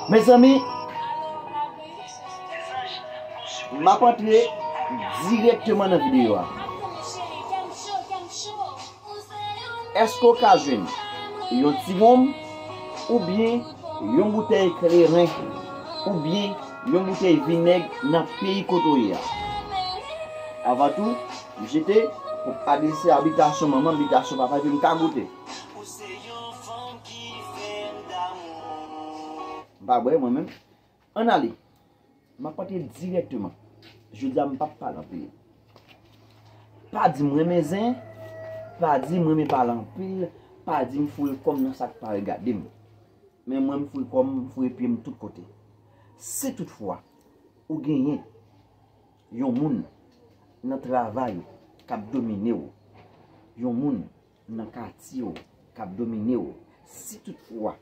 Mezanmi, m ap antre direkteman nan videyo a. Èske ou ka jwenn yon ti wonm oubyen yon boutèy kleren oubyen yon boutèy vinèg nan peyi kote ou ye a? Avan tou, m jete pou adrese a bitasyon manman, bitasyon papa epi m ka goute. Ou se yon fanm ki fèm damou. M pa bwè mwen menm. Ann ale. M ap antre dirèkteman. Jodi a m pap pale anpil. Pa di m renmen zen. Pa di m renmen pale anpil. Pa di m foure kò m nan sa k pa regade m. Men mwen m foure kò m, m foure pye m tout kote. Si tout fwa ou genyen yon moun nan travay ou k ap domine ou, yon moun nan katye w k ap domine w si tout fwa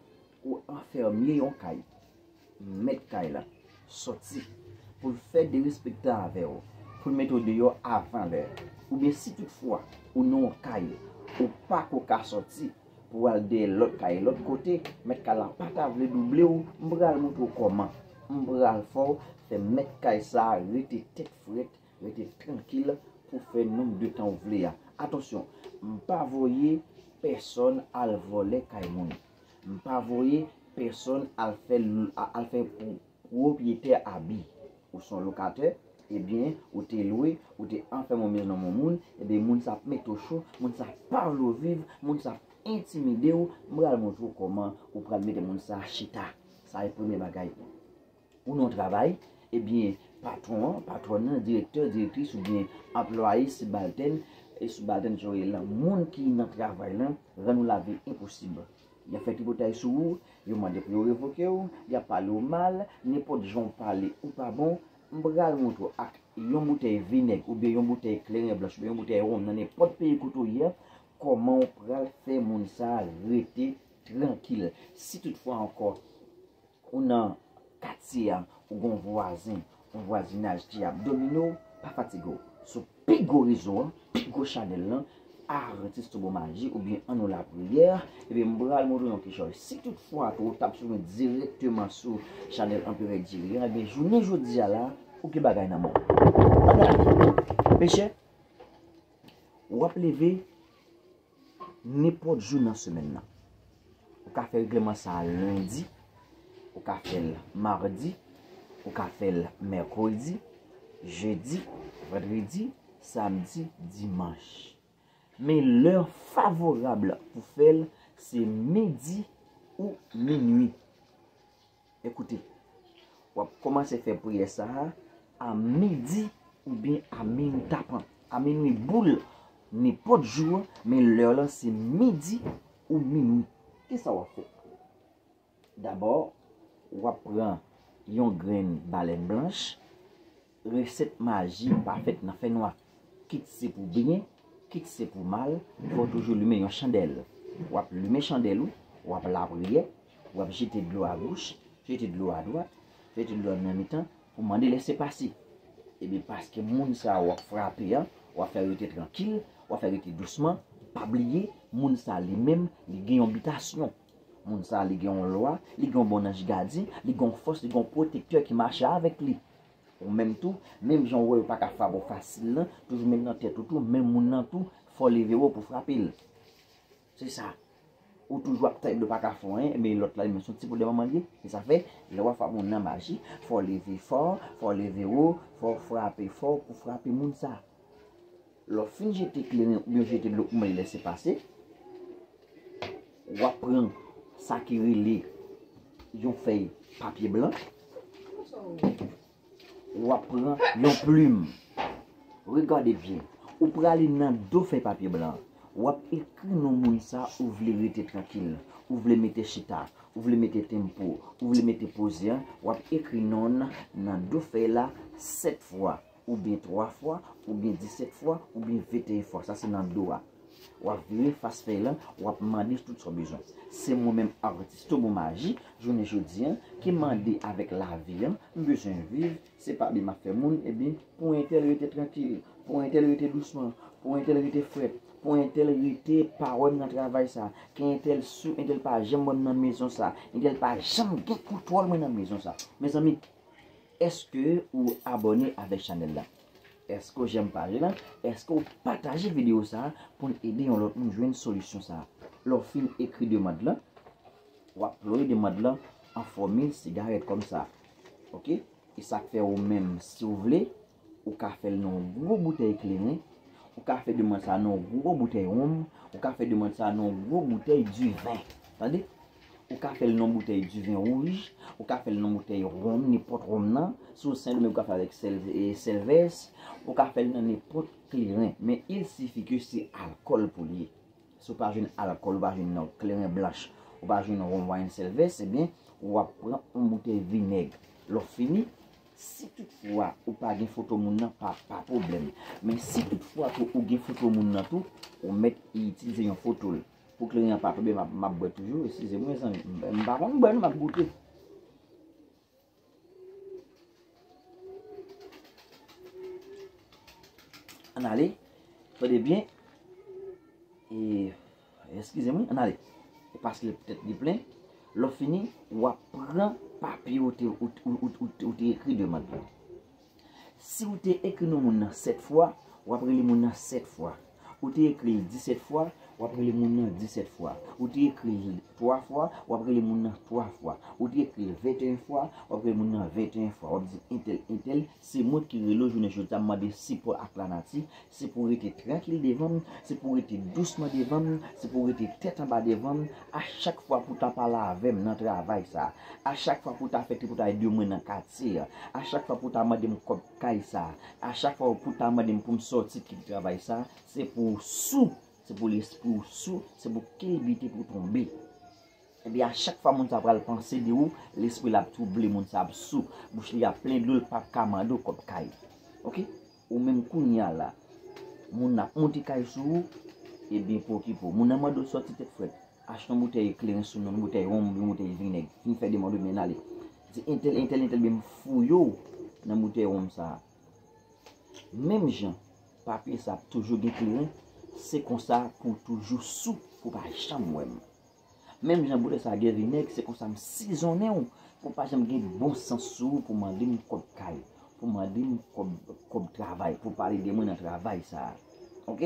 ou anfèmye yon kay mèt kay la sòti pou l fè derespektan avè w pou l mete w deyò avan lè oubyen si tout fwa ou nan yon kay ou pa ko ka sòti pou w al dèyè lòt kay lòt kote mèt kay la pa ta vle double w m pral montre w kòman m pral fè w fè mèt kay sa rete tèt frèt Rete trankil pou fè nonb de tan ou vle a. Atansyon, m pa voye pèsòn al vòlè kay moun. M pa voye pèsòn al fè al fè pwopyetè abi. Ou son lokatè, ebyen, ou te lwe, ou te anfème yon mezon nan men yon moun, ebyen moun sa ap mete w cho, moun sa pa vle w viv, moun sa ap entimide w, m pral montre w kòman ou pral mete moun sa chita. Sa e premye bagay. Ou nan yon travay, ebyen patwon an, patwòn nan, direktè, direktris oubyen anplwaye, sibaltèn, e sibaltèn sa yo rele lan, moun ki nan travay lan rann ou lavi enposib. Y ap fè tripotay sou ou, yo mande pou yo revoke ou, y ap pale ou mal, nenpòt jan ou pale ou pa bon, m pral montre ou ak yon boutèy vinèg oubyen yon boutèy kleren blanch oubyen yon boutèy wonm nan nenpòt peyi kote ou ye a, kòman ou pral fè moun sa a rete trankil. Si tout fwa ankò Ou nan katye a, ou gen yon vwazen, yon vwazinaj ki ap domine w, pa fatige w. Sou pi gwo rezo an, pi gwo chanèl lan, Adventiste Turbo Magie oubyen An Nou Lapriyè, ebyen m pral montre w yon ti chòy. Si tout fwa ke w tap swiv mwen dirèkteman sou chanèl Anperè Jerry an, ebyen jounen jodi a la, ou gen bagay nan men w. An gade, mechè, wap leve. Nenpòt jou nan semèn nan. Ou ka fè regleman sa lendi, ou ka fè l mardi, ou ka fè l mèkredi, jedi, vandredi, samdi, dimanch. Men lè favorab pou fè l se midi ou minui. Ekoute, w ap kòmanse fè priyè sa a a midi oubyen a minwi tapan. A minwi boule nenpòt jou an, men lè lan se midi ou minwi. Ki sa w ap fè? Dabò, w ap pran yon grenn balèn blanch, Resèt maji pa fèt nan fènwa. Kit se pou byen, kit se pou mal, fò w toujou limen yon chandèl. W ap limen chandèl ou, w ap lapriyè, w ap jete dlo agoch, jete dlo adwat, jete dlo nan mitan pou mande lese pase. Ebyen paske moun sa a w ap frape an, w ap fè rete trankil, w ap fè rete dousman, pa bliye moun sa a li menm li gen yon bitasyon. Moun sa a li gen yon lwa, li gen yon bon anj gadyen, li gen yon fòs, li gen yon pwotektè ki mache avèk li. Ou menm tou, menm jan ou wè yo pa ka frape w fasil lan, toujou met nan tèt ou tou, menm moun nan tou, fè w leve wo pou w frape l. Se sa. Ou toujou ap tann yo pa ka fè w anyen, men lòt la li menm se yon ti poudre manman l ye. Se sa fè, lè w ap frape moun nan maji, fò w leve fò, fò w leve wo, fò w frape fò pou w frape moun sa a. Lè w fin jete kleren oubyen jete dlo pou mwen lese pase, wap pran sa ki rele yon fèy papye blan, wap pran yon plim, regade byen, ou prale nan do fèy papye blan an, wap ekri non moun sa ou vle rete trankil, ou vle mete chita, ou vle mete tempo, ou vle mete poze an, wap ekri non nan do fèy la 7 fwa. oubyen 3 fwa, oubyen 17 fwa, oubyen 21 fwa. Sa se nan do a. W ap vire fas fèy lan, w ap mande tout sa w bezwen. Se mwen menm Artis Tomo Maji, jounen jodi an, ki mande avèk lavi an, m bezwen viv, se pale m ap fè moun, ebyen, pou entèl rete trankil, pou entèl rete dousman, pou entèl rete frèt, pou entèl rete pa wè m nan travay sa, ke entèl sou, entèl pa janm wè m nan mezon sa, entèl pa janm gen kontwòl mwen nan mezon sa. Mezanmi! Eske ou abone avek chanel la. Eske ou jèm paj la. Eske ou pataje video sa a poun ede yon lot moun jwenn solisyon sa a. Le w fin ekri demand lan. Wap ploye demand lan an fòmil sigarèt kom sa. Ok. E sak fè ou menm si ou vle. Ou ka fè l nan yon gwo boutèy kleren. Ou ka fè demand sa a nan yon gwo boutèy wonm. Ou ka fè demand sa a nan yon gwo boutèy diven. Tande. Ou ka fèl nan boutèy di vin wouj, ou ka fèl nan boutèy ronm, nenpòt ronm nan, si ou sendomeng ou ka fèl avèk sèl e sèl vès, ou ka fèl nan nenpòt kleren, men il sifi ke se alkòl pou li ye. Si ou pa jwenn alkòl, ou pa jwenn nan kleren blanch, ou pa jwenn ronm wayn sèl vès, ebyen ou ap pran yon boutèy vinèg. Lò fini, si tout fwa ou pa gen foto moun nan, pa pa pwoblèm. Men si tout fwa tou ou gen foto moun nan tou, ou mèt itilize yon foto l. Pou kleren an pa tonbe map bwè toujou eskize m mezanmi m pa konn bwè non map goute. Ann ale tande byen eskize m wi ann ale e pase l tèt li plen lè w fini wap pran papye ou te ekri demann lan. Si ou te ekri non moun nan 7 fwa, w ap rele moun nan 7 fwa. Ou te ekri l 17 fwa, w ap rele moun nan 17 fwa. Ou te ekri l 3 fwa, w ap rele moun nan 3 fwa. Ou te ekri l 21 fwa, w ap rele moun nan 21 fwa. W ap di entèl, entèl, se mwen ki rele w jounen jodi a, m mande sipò ak lanati, Se pou w rete trankil devan m, se pou w rete dousman devan m, se pou w rete tèt anba devan m, a chak fwa pou w ta pale avè m nan travay sa a, a chak fwa pou w ta fè tripotay de mwen nan katye a, a chak fwa pou w ta mande m kòb kay sa a, a chak fwa pou w ta mande m pou m sòti kite travay sa a, se pou w sou, se pou lespri w sou, se pou kilbite pou w tonbe. Epi a chak fwa moun sa a pral panse de ou, lespri l ap twouble, moun sa a ap sou, bouch li ap plen dlo, l pap ka mande w kòb kay. Ok? Ou menm kounya la moun nan ap monte kay sou ou ebyen pwokipe w. Moun nan mande w sòti tèt frèt, achte yon boutèy kleren sou nou, yon boutèy wonm oubyen yon boutèy vinèg, fin fè demand ou byen ale. Di entèl, entèl, entèl byen m fouye w nan boutèy wonm sa a. Menm jan papye sa ap toujou gen kleren, se konsa pou w toujou sou pou w pa janm wè m. Menm jan boulè sa gen vinèg se konsa m sizonnen w pou pa janm gen bon sans sou ou pou mande m kòb kay, pou mande m kòb travay, pou pale de mwen nan travay sa a. Ok?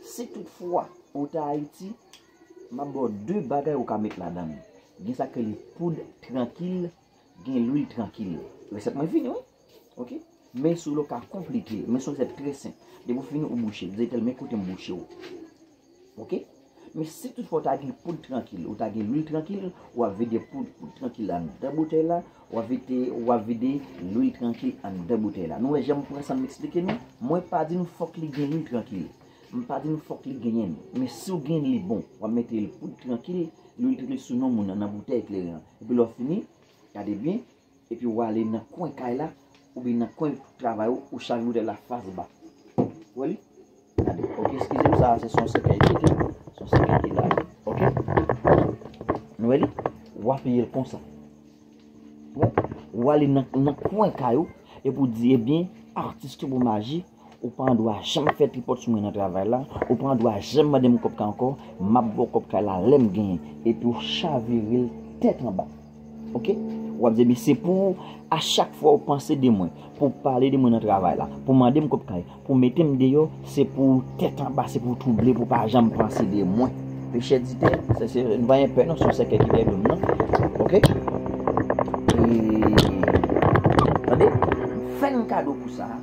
Si tout fwa ou ta Ayiti, m ap ba w 2 bagay ou ka met ladan l. Gen sa k rele poud trankil, gen lwil trankil. Resèt mwen fini wi. Ok Men solo ka konplike Men solo se trè senp Depi ou fini ou bouche l Di tel men kote m bouche w Ok Men si tout fwa ou ta gen poud trankil Ou ta gen lwil trankil Ou ap vide poud trankil la anndan boutèy la Ou ap vide Ou ap vide lwil trankil anndan boutèy la Nou wè jan m pran san m eksplike nou Mwen pa di nou fòk li gen lwil trankil M pa di nou fòk li genyen l Men si ou gen l li bon Ou ap mete l poud trankil Lwil trankil sou non moun nan Nan boutèy kleren an Epi lè ou fini Gade byen Epi ou ale nan kwen kay la oubyen nan kwen travay ou, ou chaje boutèy la fas ba. Ou wè li? Gade. Ok, eskize m sa a se son sèkèy li ok. Son sèkèy ki la a. Ok. Nou wè li? Ou apiye l konsa. Ou wè? Ou ale nan kwen kay ou epi ou di ebyen atis ki pou maji. Ou pa andwa janm fè tripòt sou mwen nan travay la, ou pa andwa janm mande m kòb kay ankò, m ap ba w kòb kay la lè m genyen, epi w chavire l tèt anba. Ok? W ap di, Ebyen, se pou ou, a chak fwa ou panse de mwen, pou w pale de mwen nan travay la, pou w mande m kòb kay, pou w mete m deyò, se pou ou tèt anba, se pou ou twouble, pou w pa janm panse de mwen. Pechè di tè, se se, nou pa gen pè non, se yon sèkèy ki dèyè do m nan. Ok? E, tande, fè m kado pou sa a.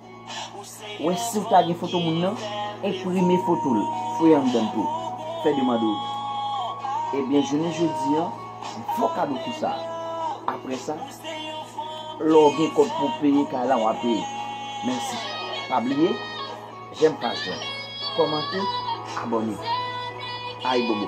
Wè siw ta gen foto moun nan, enprime fotol, foye anndanl tou, fè demand ou. Ebyen jounen jodi an, fo kado pou sa. Aprè sa, lè w gen kòb pou peye kay la wa peye. Mèsi. Pa bliye jèm paj la, kòmante, abòne. Ayibobo.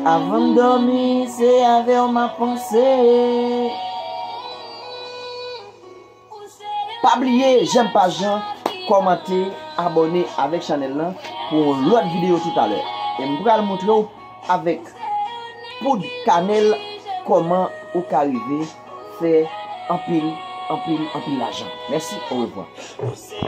Avan m dòmi se avè w m ap panse. Pa bliye jèm paj lan, kòmante, abòne avèk chanèl lan pou yon lòt videyo toutalè. E m pral moutre w avèk poud kanèl kòman ou ka rive fè anpil, anpil, anpil lajan. Mèsi, orevwa.